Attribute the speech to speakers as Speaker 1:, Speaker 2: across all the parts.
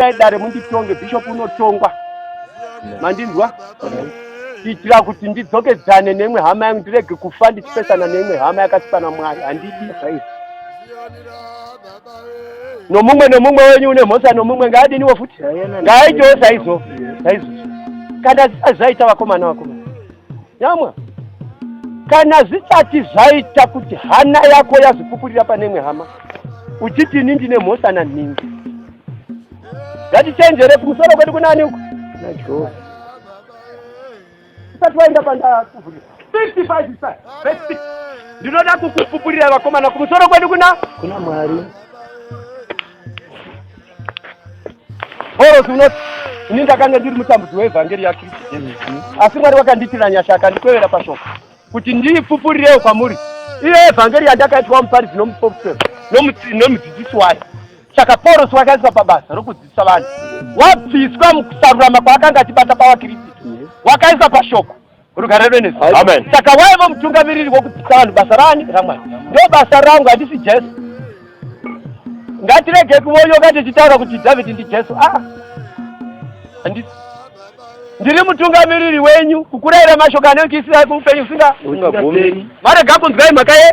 Speaker 1: itai dare munditonge bishop unotongwa mandinzwa kuitira kuti ndidzokedzane neimwe hama yangu ndirege kufa ndichipesana neimwe hama yakasipa namwari handidi nomumwe nomumwe wenyu une mhosa nomumwe ngaadiniwo futi ngaaitewo saizo saizo kana zvisati zvaita vakomana vakomana nyamwa kana zvisati zvaita kuti hana yako yazopupurira pane imwe hama uchiti ini ndine mhosa nanhingi ngatichenjere kumusoro kwedu kunani uku najehova usati waenda pandakuvhurira 55 isa verse 6 ndinoda kukupupurira vakomana kumusoro kwedu kuna kuna mwari orosi unoti ini ndakanga ndiri mutambudzi weevhangeri yakristu jesu asi mwari wakandiitira nyasha akandikwevera pashoko kuti ndiipupurirewo kwamuri iyo evhangeri yandakaitwa muparidzi nomuporoferi nomudzidzisi wayo saka paurosi wakaiswa pabasa rokudzidzisa vanhu wabviswa mukusarurama kwaakanga achibata pavakristu wakaiswa pashoko rugare rwenezi saka waiva mutungamiriri wokudzidzisa vanhu basa raani ramwari ndo basa rangu handisi jesu ngatirege kuvoyoka tichitaura kuti dhavhidhi ndijesu a ah, ndiri mutungamiriri wenyu kukuraira mashoko anoikisira kuupenyu usinga marega kunzwai mhaka ye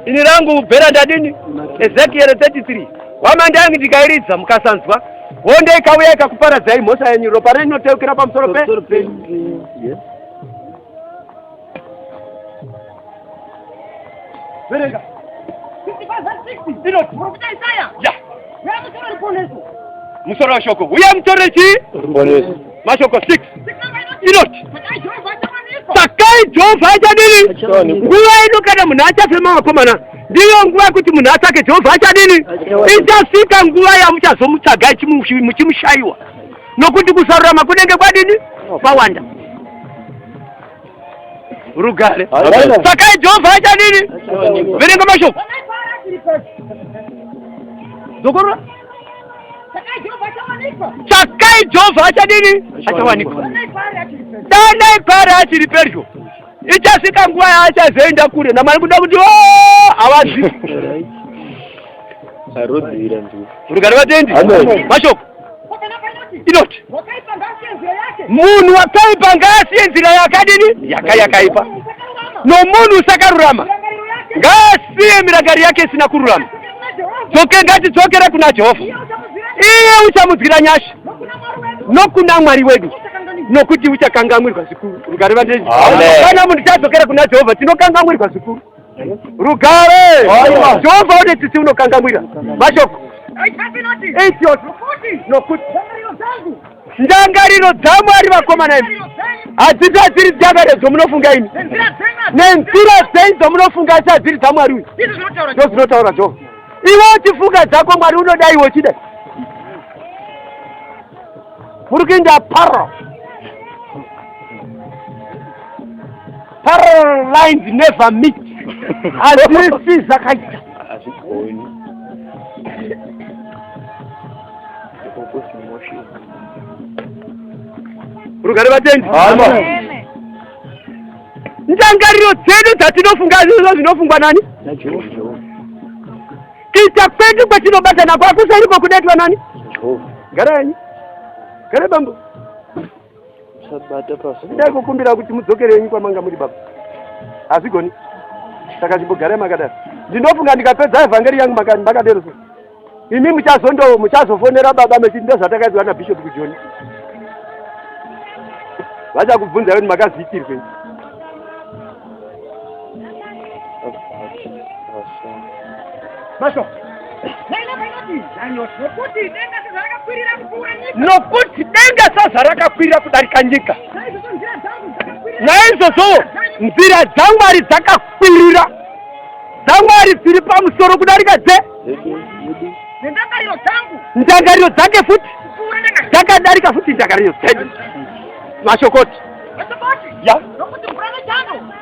Speaker 1: ini rangu bhera ndadini ezekiel 33 wamandangi ndikairidza mukasanzwa honde ikauya ikakuparadzai mhosva yenyu ropa renyu rinoteukira pamusoro pe Verenga. 55 verse 60. Inoti. Profita Isaya. Ya. Uya mutore ruponeso. Musoro wa shoko. Uya mutore chi? Ruponeso. Mashoko 6. Inoti. Sakai Jehova achawanikwa. Sakai Jehova achadini? Nguva ino kana munhu achafema wakomana. Ndiyo nguva yekuti munhu atsvake Jehova achadini? Ichasvika nguva yamuchazomutsvaga muchimushaiwa. Nokuti kusarurama kunenge kwadini? Kwawanda. rugare sakai jehovha aita nini verenga mashoko zokorora tsvakai jehovha achadini achawanikwa danai pari achiri pedyo ichasvika nguva yaachazoenda kure namwari kuda kuti oh, havazivi rugare vatendi mashoko inoti munhu wakaipa ngaasiye nzira yakadini yaka yakaipa nomunhu usakarurama ngaasiye mirangari yake isina kururama dzoke ngatidzokere kuna jehovha iye uchamudzwira nyasha nokuna mwari wedu nokuti uchakangamwirwa zvikuru kana munhu tadzokera kuna jehovha tinokangamwirwa zvikuru rugare jehovha une tsitsi unokangamwira mashoko nokuti ndangariro dzamwari vakomana imi hadziti hadziri dzakare dzomunofunga imi nenzira dzei dzomunofunga asi hadziri dzamwari uyu ndozinotaura jehovha iwe uchifunga dzako mwari unoda iwe uchida muri kuinda paro Parallel lines never meet. Hazvisi zvakaita. Hazvigoni. Rugare vatendi. Ndangariro dzedu dzatinofunga izvozvo zvinofungwa nani? Kuita kwedu kwatinobatana kwakusairiko kudaitwa nani? Gara yenyu. Gara bambo. Sabata pasi. Ndai kukumbira kuti mudzokere henyu kwamanga muri baba. Hazvigoni. Saka chimbogarai makadaro. Ndinofunga ndikapedza evhangeri yangu makadero so. Imi muchazondo muchazofonera baba mechiti ndozvatakaitwa na Bishop kujoni. Vachakubvunza kuti makazviitirwei. Masho. Nokuti denga sezvarakakwirira kupfuura nyika. Nokuti denga sezvarakakwirira kudarika nyika. Naizvozvo nzira dzamwari dzakakwirira dzamwari dziri pamusoro kudarika dze ndangariro dzake futi dzakadarika futi ndangariro dzedu mashokoti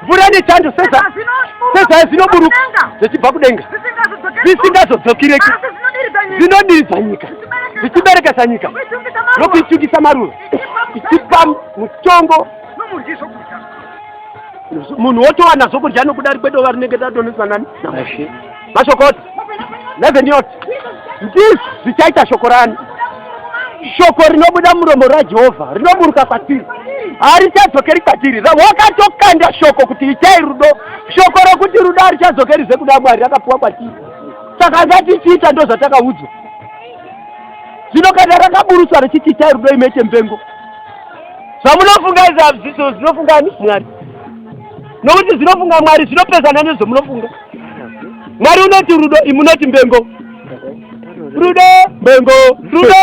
Speaker 1: mvura nechando sezai zvinoburuka zvichibva kudenga zvisingazodzokireki zvinodiridza nyika zvichiberekesa nyika nokuichukisa maruva ichipa mutongo munhu wotowana zvokudya nokuda rikwedo varinenge tadonesa nani Mashokoti. Reverend Yot. Ndizvo zvichaita shoko rani. Shoko rinobuda muromo raJehovha rinoburuka kwatiri. Harichadzokeri kwatiri. Wakatokanda shoko kuti itai rudo. Shoko rokuti rudo harichadzokeri zvekuda Mwari rakapuwa kwatiri. Saka ngatichiita ndozvatakaudzwa. Zvino kana rakaburuswa richiti itai rudo imete mpengo. Zvamunofunga izvi hazviso zvinofungani Mwari. Nokuti zvinofunga Mwari zvinopesana nezvamunofunga. mwari unoti rudo imunoti mbengo rudo mbengo rudo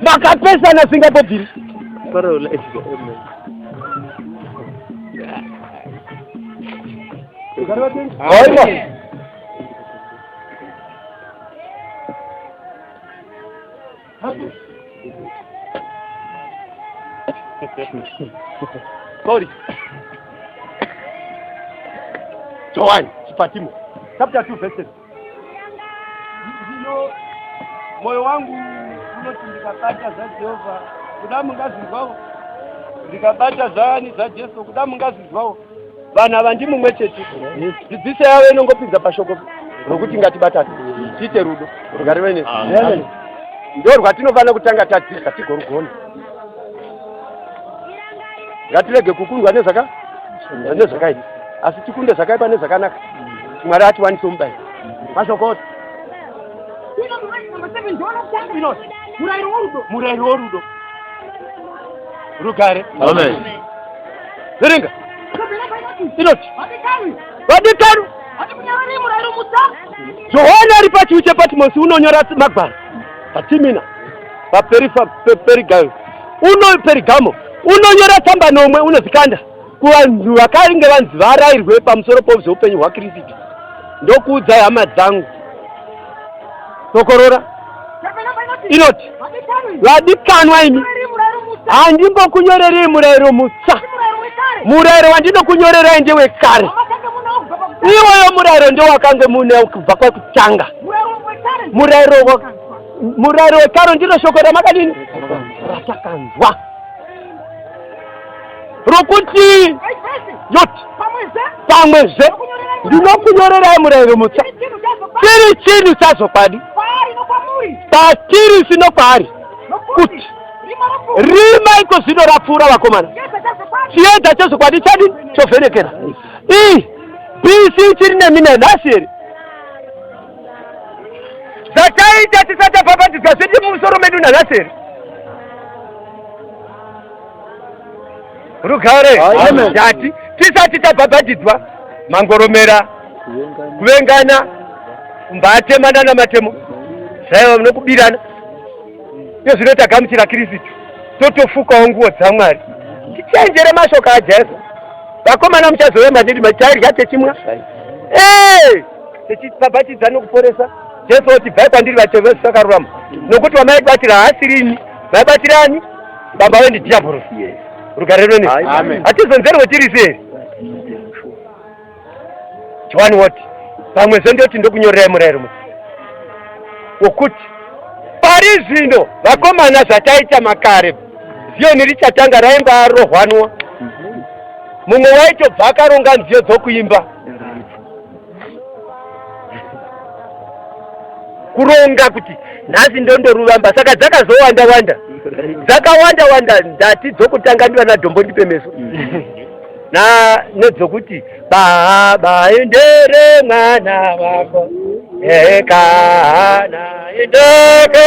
Speaker 1: makapesana singapobviri aiwa Sorry. Joan, chipatimo. Chapter 2 verse 7. Ndino moyo wangu unoti ndikabata zvaJehovha kuda mungazinzwawo ndikabata zvaani zvaJesu kuda mungazinzwawo vanhu ava ndimumwe chete dzidziso yavo inongopinza pashoko rokuti ngatibatane tiite rudo rungarive ne ndo rwatinofanira kutanga tadzidza tigorugona ngatirege kukundwa nezvaka nezvakaipa asi tikunde zvakaipa nezvakanaka mwari atiwanise mubayi mashokota murairo worudo murairo worudo rugare amen Verenga. Inoti. Vadikani. Johani ari pachiwi chePatimosi unonyora magwaro paTimina paPerigamo uno Perigamo unonyora tsamba nomwe unozikanda kuvanhu vakange vanzi varairwe pamusoro pouzeupenyu hwaKristu ndokuudzai hama dzangu tokorora inoti vadikanwa imi handimbokunyorerei murayiro mutsva murayiro wandinokunyorerai ndewekare iwoyo murayiro ndewakange mune kubva kwekutanga murayiro murayiro wekare ndinoshoko ramakadini ratakanzwa rokuti yoti pamwezve ndinokunyorerai murayiro mutsva chiri chinhu chazokwadi patiri sino kwaari kuti rima iko zvino rapfuura vakomana chiedza chezokwadi chadi chovhenekera ii bc chiri nemi nenhasi here zvataita tisatapapatidzwa zvedi mumusoro medu nanhasi here rugare ndati tisati tabhabhatidzwa mangoromera kuvengana mbatemana namatemo zvaiva nokubirana iyo zvino tagamuchira kirisitu totofukawo nguo dzamwari tichenjere mashoko ajesu vakomana muchazove madidi matairya techimwa techibhabhatidza nokuporesa jesu oti bvai kwandiri vatevesi vakarurama nokuti vamaibatira haasiri ini vaibatirani baba wendi diabhoro rugare rwene hatizonzerwe tiri sei johani woti pamwe zve ndoti ndokunyorerai murayiro mu wokuti pari zvino vakomana zvataita makare ziyoni richatanga raimba arohwanwa mumwe waitobva akaronga nziyo dzokuimba kuronga kuti nhasi ndondoruvamba saka dzakazowanda wanda dzakawanda wanda ndati dzokutanga ndivana dhombo ndipemeso na nedzokuti baha baendere mwana wako ekana indoko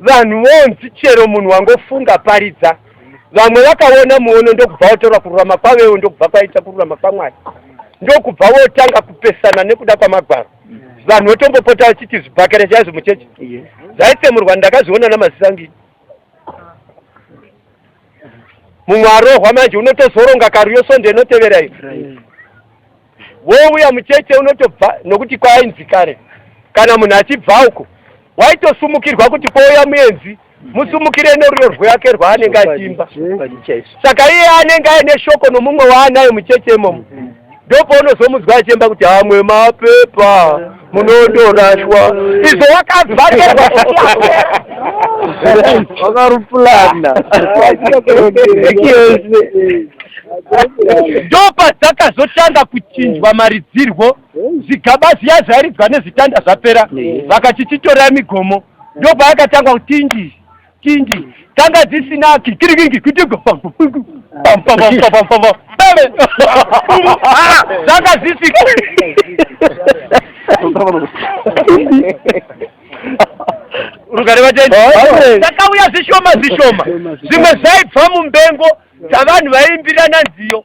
Speaker 1: Vanhu vonzi chero munhu wangofunga paridza vamwe vakaona muono ndokubva watora kururama kwavewo ndokubva kwaita kururama kwamwari ndokubva wotanga kupesana nekuda kwamagwaro vanhu votombopota vachiti zvibhakera chaizvo muchechi zvaitsemurwa ndakazviona namaziso angii mumwe arohwa manje unotozoronga karu yosonde inotevera iyo wouya mucheche unotobva nokuti kwainzi kare kana munhu achibva uko waitosumukirwa kuti kwouya muenzi musumukire noruro rwake rwaanenge achiimba saka iye anenge aine shoko nomumwe waanayo mucheche imomo ndopaunozomunzwa achiimba kuti amwe mapepa munotorashwa izvo wakazvaterwa
Speaker 2: wakarupulana
Speaker 1: ndopa dzakazotanga kuchinjwa maridzirwo zvigaba zviya zvairidzwa nezvitanda zvapera vakachichitorera migomo ndopa yakatangwa kutinji Kingi tanga dzisinaki kirikingi kutigo zanga dzisika rugare vatendi takauya zvishoma zvishoma zvimwe zvaibva mumbengo dzavanhu vaimbirana nziyo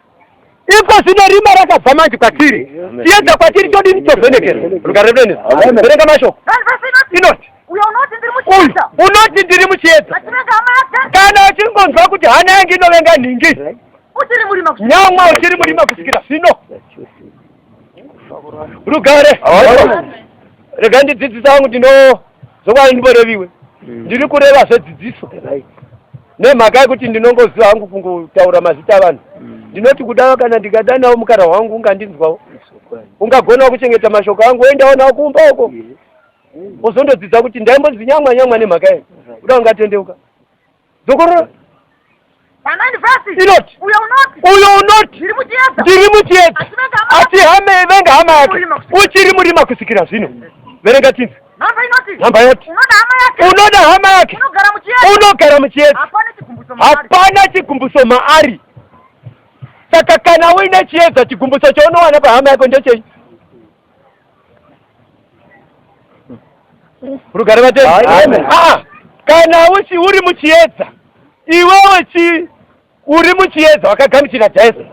Speaker 1: iko zvino rima rakabva manje kwatiri tiedza kwatiri todini tovhenekera rugare rwenyu verenga mashoko inoti unoti ndiri muchiedza kana uchingonzwa kuti hana yange inovenga nhingi nyamwa uchiri murima kusvikira zvino rugare rega ndidzidzisa wangu ndino Zvokwadi ndimboreviwe. Mm. Ndiri kureva zvedzidziso. Right. Nemhaka yekuti ndinongoziva hangu kungotaura mazita avanhu. Mm. Ndinoti kuda kana ndikadanawo mukara wangu ungandinzwawo. Ungagonawo kuchengeta mashoko angu woendawo nawo kumba uko. Uzondodzidza kuti ndaimbonzi nyamwa nyamwa nemhaka yei. Kuda ungatendeuka. dzokorora inoti uyo unoti ndiri muchiedza asi hama ivenga hama yake uchiri murima kusikira zvino verenga chinzi nhamba yoti unoda hama yake unogara muchiedza hapana chigumbuso maari saka kana uine chiedza chigumbuso chaunowana pahama yako ndechei rugare vatei ah, kana uchi uri muchiedza iwewe chi uri muchiedza wakagamuchira jesu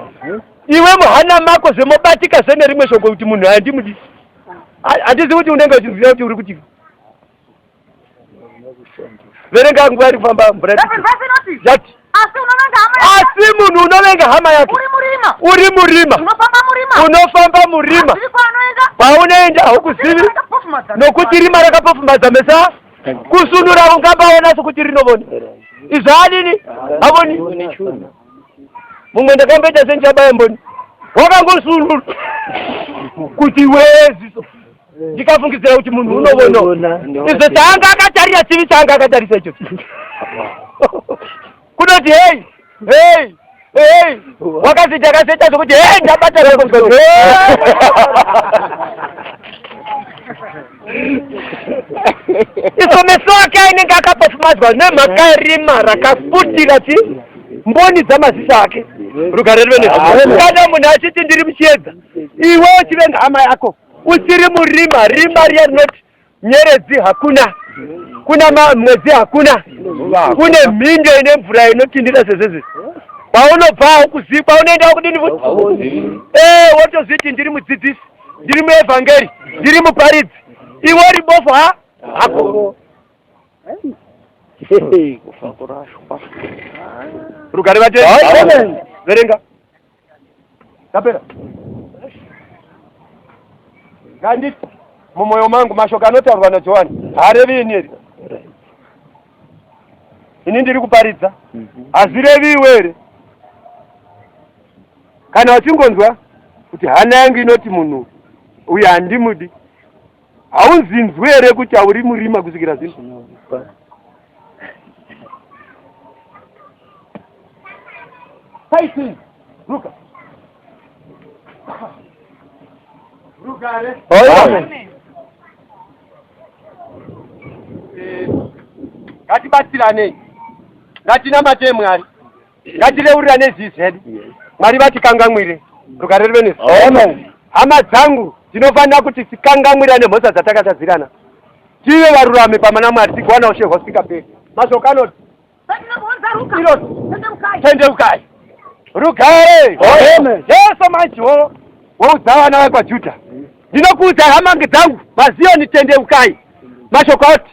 Speaker 1: iwe muhana mako zvemobatika zvenerimwe shoko kuti munhu handimudisi handizi kuti unenge uchinzira kuti uri kuti verenga nguva iri kufamba mvura yati asi munhu unovenga hama yake uri murima unofamba murima kwaunoenda haukuzivi nokuti rima rakapofumadza mesa kusunura ungambaona sokuti rinovona izvo anini havoni mumwe ndakamboita sendichabaye mboni wakangosunura kuti weziso ndikafungidzira kuti munhu unovona izvo chaanga akatarira chivi chaanga akatarisa icho kunoti hei hei hei wakaziti akazoita zvokuti hei ndabatara iso meso ake ainenge akapofumadzwa nemhaka yerima rakafutira ti mboni dzamaziso ake rugare rive nekana munhu achiti ndiri muchiedza iwe uchivenga hama yako usiri murima rima riya rinoti nyeredzi hakuna kuna mwedzi hakuna kune mhindo ine mvura inotindira sezezi paunobva aukuzivi paunoenda wakudini futi ee eh, wotozviti ndiri mudzidzisi ndiri muevhangeri ndiri muparidzi iwe uri bofu ha hako rugare vate verenga Tapera. Nganditi mumoyo mangu mashoko anotaurwa naJohani haarevi ini here? Ini ndiri kuparidza. Hazvirevi iwe here? Kana uchingonzwa kuti hana yangu inoti munhu uyu handimudi Haunzinzwi here kuti hauri murima kusvikira zvino? Fighting! Ruka! Rugare! Amen! Eh, ngatibatsiranei ngatinamate mwari ngatireurirane zii zvedu mwari vatikangamwire rugare rive nesu hama dzangu tinofanira kuti tikangamwirane mhosva dzatakatadzirana tive varurami pama namwari tigowana ushe hwasikaperi mashoko anoti tendeukai rugare jesu manje wo woudza vana vekwajuda ndinokuudza hamange dzangu maziyoni tendeukai mashoko oti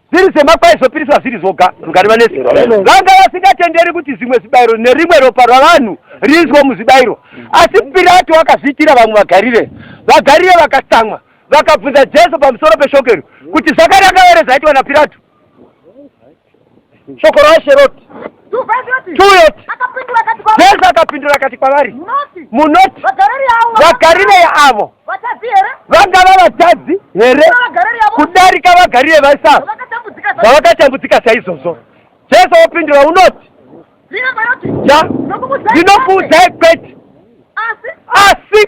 Speaker 1: Zviri semakwa aizopiriswa zviri zvoga, rugare vanese vanga vasingatenderi kuti zvimwe zvibayiro nerimwe ropa rwavanhu riiswe muzvibayiro. Asi Pirato akazviitira vamwe vaGarire. VaGarire vakatsamwa, vakabvunza Jesu pamusoro peshoko iri, kuti zvakanaka here zvaitwa naPirato? Shoko raShe roti, Tueti. Jesu akapindura akati kwavari, Munoti vaGarireya avo Vatadzi here? Vangava vatadzi here kudarika vagarire vaisa zvavakatambudzika saizvozvo? Jesu opindura unoti, ja ndinokuudzai kwete asi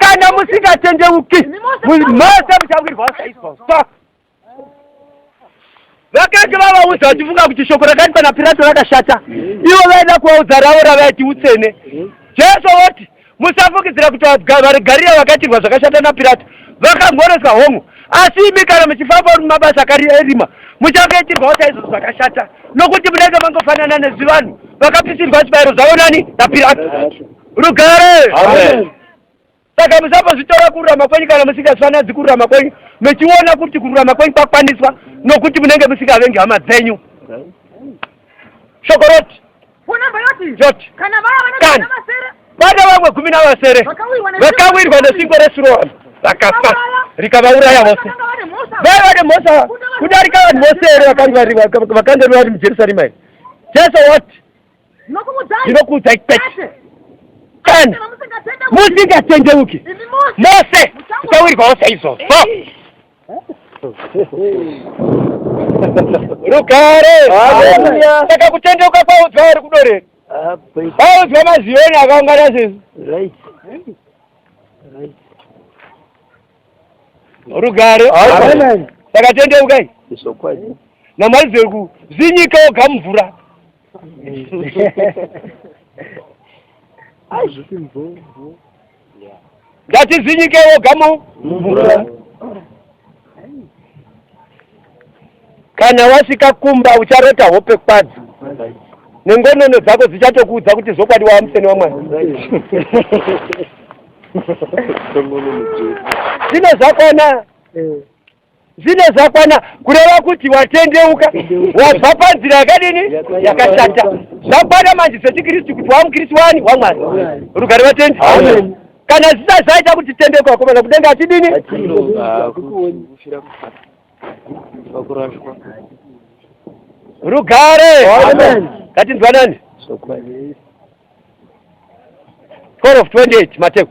Speaker 1: kana musingatendeuki mose muchawirwawo saizvozvo. vakanga vavaudza vachifunga kuti shoko rakati pana pirato rakashata ivo vaida kuvaudza ravo ravaiti utsene jesu voti musafungidzira kuti vari gariya vakatirwa zvakashata napirato vakangoreswa hongu asi imi kana muchifamba uri mumabasa kari erima muchangaitirwawo chaizvo zvakashata nokuti munenge mangofanana nezvivanhu vakapisirwa zvibayiro zvavo nani napirato rugare Saka musambozvitora kururama kwenyu kana musingafananidzi kururama kwenyu mechiona kuti kururama kwenyu kwakwaniswa nokuti munenge musingavengi hama dzenyu. Shoko roti roti kana vana vamwe gumi navasere vakawirwa nesingo reSiroamu vakafa rikavauraya vose vaya vane mhosva kudarika vanhu vose here vakanga vari mujerusarema here jesu wati ndinokuudzai kwete kana musingatendeuki mose muchawirwawo saizvozvo rugare saka kutendeuka kwaudzwa vari kudorera vaudzwa maziyoni akaungana sezvi rugare saka tendeukai namwari zveku zinyika oga mvura ngatizinyike woga mumvura kana wasvika kumba ucharota hope kwadzo nengonono dzako dzichatokuudza kuti zvokwadi wava museni wamwana zvino zvakona eh. Zvine zvakwana kureva kuti watendeuka wabva panzira yakadini yakashata zvakwana manje zvechikristu kuti wamukristu wani wamwari rugare vatendi kana zvisai zvaita kuti tendeuka wakomana kudenga achidini rugare ngatinzwanani 12 of 28 mateko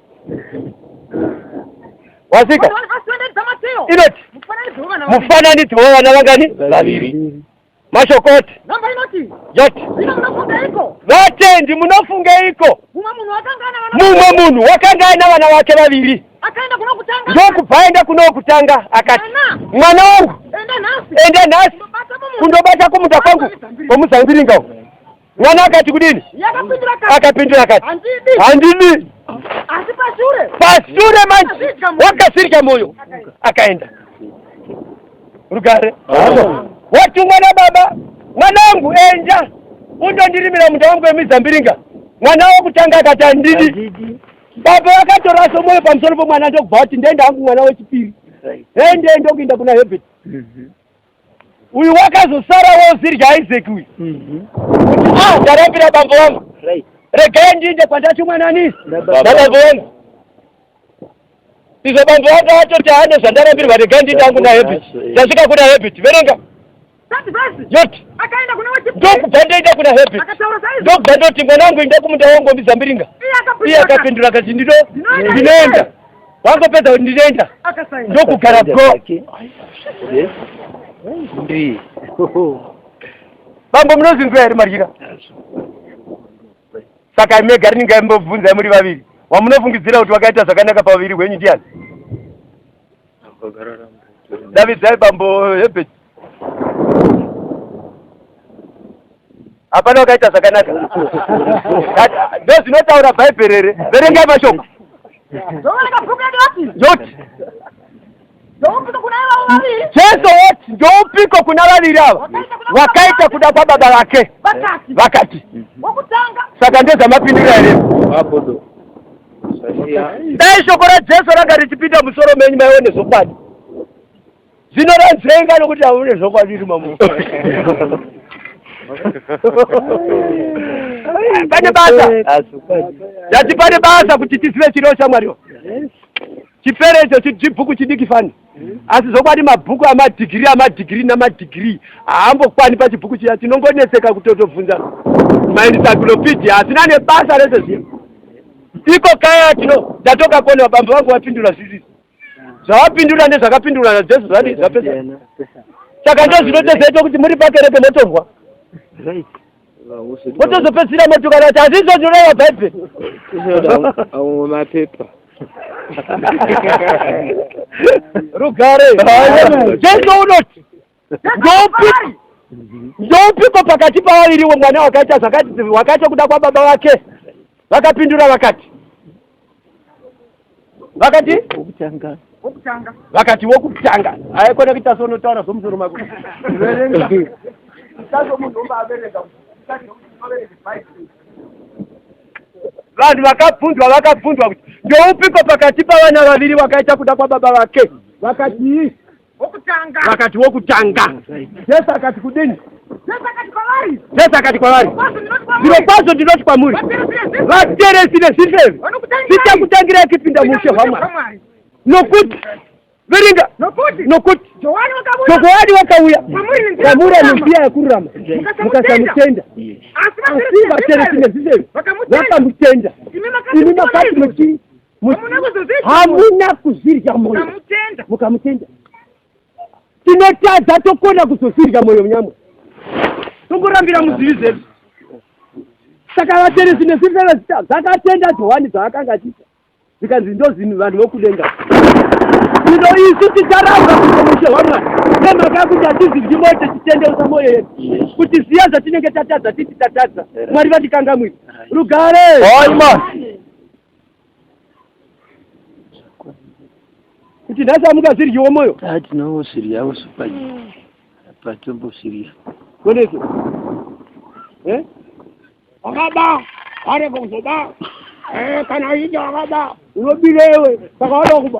Speaker 1: wasika inoti mufananidzo wevana vangani vaviri mashoko oti yoti vatendi munofungeiko mumwe munhu wakanga aina vana vake vaviri ndokubva aenda kuno wokutanga akati mwana wangu enda nhasi kundobata kumunda kwangu kwomuzambiringa uku Mwana akati kudini? Yakapindura akati. Akapindura akati. Handidi. Handidi. Asi pashure. Pashure manje. Wakasirika moyo. Akaenda. Rugare. Watumwa na baba. Mwanangu enja. Undondirimira munda wangu wemizambiringa. Mwana wekutanga akati handidi. Baba vakatoraso moyo pamusoro pomwana ndokubva kuti ndenda hangu mwana wechipiri. Right. Hende ndokuinda kuna Herbert. Mhm. Mm uyu wakazosara wozirya isaac uyu mhm. kuti a ah, ndarambira bambo vangu regai ndiinde kwandatumwa nani nabambo vangu izvo bambo vangu atoti ane zvandarambirwa regai ndiinde angu nahabit ndasvika kuna habit verenga yoti
Speaker 2: ndokubva ndoenda kuna
Speaker 1: habit ndokubva ndoti mwana wangu inda kumunda wangu wamizambiringa iye akapindura akati ndido ndinoenda wangopedza kuti ndinoenda ndokugara bro ndii bambo munozinzwa here maryira saka imega rinenge aimbobvunzai muri vaviri wamunofungidzira kuti wakaita zvakanaka pavaviri hwenyu ndiani davidzai bambo hebert hapana wakaita zvakanaka ndozvinotaura bhaibheri here verengai mashoko yoti jesu woti ndoupiko kuna vaviri ava wakaita kuda kwababa vake vakati saka ndezvamapindira here dai shoko rajesu ranga richipinda musoro menyu maione zvokwadi Zino ranzenga nokuti hamune zvokwadiri mamu. Pane basa. Ndati pane basa kuti tizive chiro shamwari. Chipere icho chibhuku chidiki fani. Asi zvokwadi mabhuku amadhigiri amadhigiri namadhigiri haambokwani pachibhuku chiya chinongonetseka kutotobvunza maencyclopedia asina nebasa rese zviya. Iko kaya tino ndatokakonewa bambo vangu vapindura zvisisi. zvawapindura ndezvakapindura najesu zvadii zvapesa saka ndozvinotozoitwa kuti muri pakereke motonzwa motozopedzisira motukana kuti hazvizvo zvinoreva bhaibheri
Speaker 3: amwe mapepa
Speaker 1: rugare jesu unoti ndoupiko ndoupiko pakati pavaviriwo mwana wakaita zvakati wakaita kuda kwababa vake vakapindura vakati vakati wokutanga
Speaker 2: vakati
Speaker 1: wokutanga haikona kuita sonotaura zvomusoro mako verenga isazomunhu ombaverenga vanhu vakabvunzwa vakabvunzwa kuti ndoupiko pakati pavana vaviri vakaita kuda kwababa vake vakatii wokutanga
Speaker 2: vakati wokutanga
Speaker 1: jesu akati kudini jesu akati kwavari jesu akati kwavari zviro kwazvo ndinoti kwamuri vateresi nezvifeve zvichakutangirai kupinda muushe hwamwari nokuti verenga nokuti johani wakauya kwamuri anenziya yakururama mukasamutenda asi vateresi nezvifeve vakamutenda imi makati muchii hamuna kuzvirya moyo mukamutenda tinotadza tokona kuzozvirya moyo nyama tongorambira muzivi zvedu saka vateresi nesirerezita dzakatenda johani dzaakanga achiita zvikanzi ndozvinhu vanhu vokudenga ino isu ticharamba kuomushe hwamwari nemhaka yekuti hatiziryi moyo tichitendeusa moyo yedu kuti ziya zvatinenge tatadza titi tatadza mwari vatikangamwiri rugare kuti nhasi amuka zviryiwo moyo ah, tinongosviryawo
Speaker 3: supaji mm. patombosvirya koneso
Speaker 1: eh? wakaba areko kuzoba eh, kana uchinge wakaba unobira iwe saka wada kuba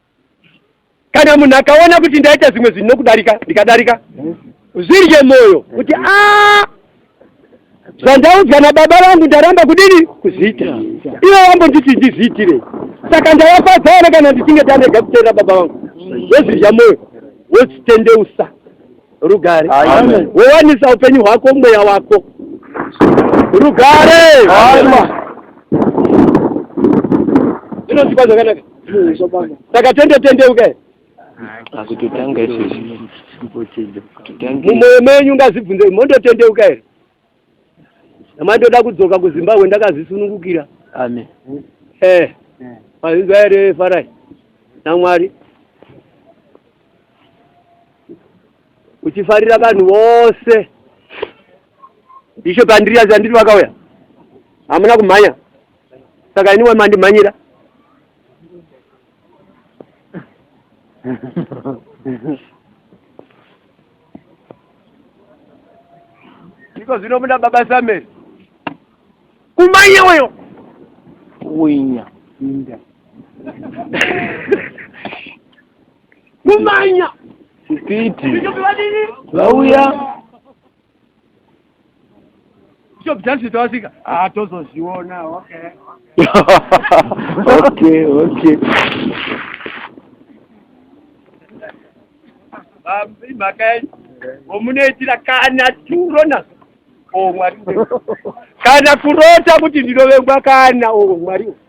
Speaker 1: kana munhu akaona kuti ndaita zvimwe zvinhu nokudarika ndikadarika zvirye mwoyo kuti a ah, zvandaudzwa nababa vangu ndaramba kudini kuzviita ivo vambonditi ndizviitire saka ndavafadzaona kana ndichinge tanega kuteerera baba vangu wozvirya mwoyo wozvitendeusa rugare wowanisa upenyu hwako mweya wako rugare zvinozikwa zvakanaka saka tende tendeuke asi
Speaker 3: totanga isusu
Speaker 1: mumwoyo menyu ngazibvunze mondotendeuka here amai ndoda kudzoka kuzimbabwe ndakazvisunungukira amen
Speaker 3: eh mazinzwa
Speaker 1: here farai namwari uchifarira vanhu vose bishop andiri azi andiri vakauya hamuna kumhanya saka iniwe mandimhanyira iko zvino muna baba sameri kumanye weyo winya
Speaker 3: inda
Speaker 1: kumanya kupiti
Speaker 3: vauya
Speaker 1: Bishop Jansi tawasika. Ah, tozozviona. Okay. okay,
Speaker 3: okay.
Speaker 1: Bambi makai. Omunoitira kana turo nazo. Oh, mwari. Kana kurota kuti ndinovengwa kana oh, mwari.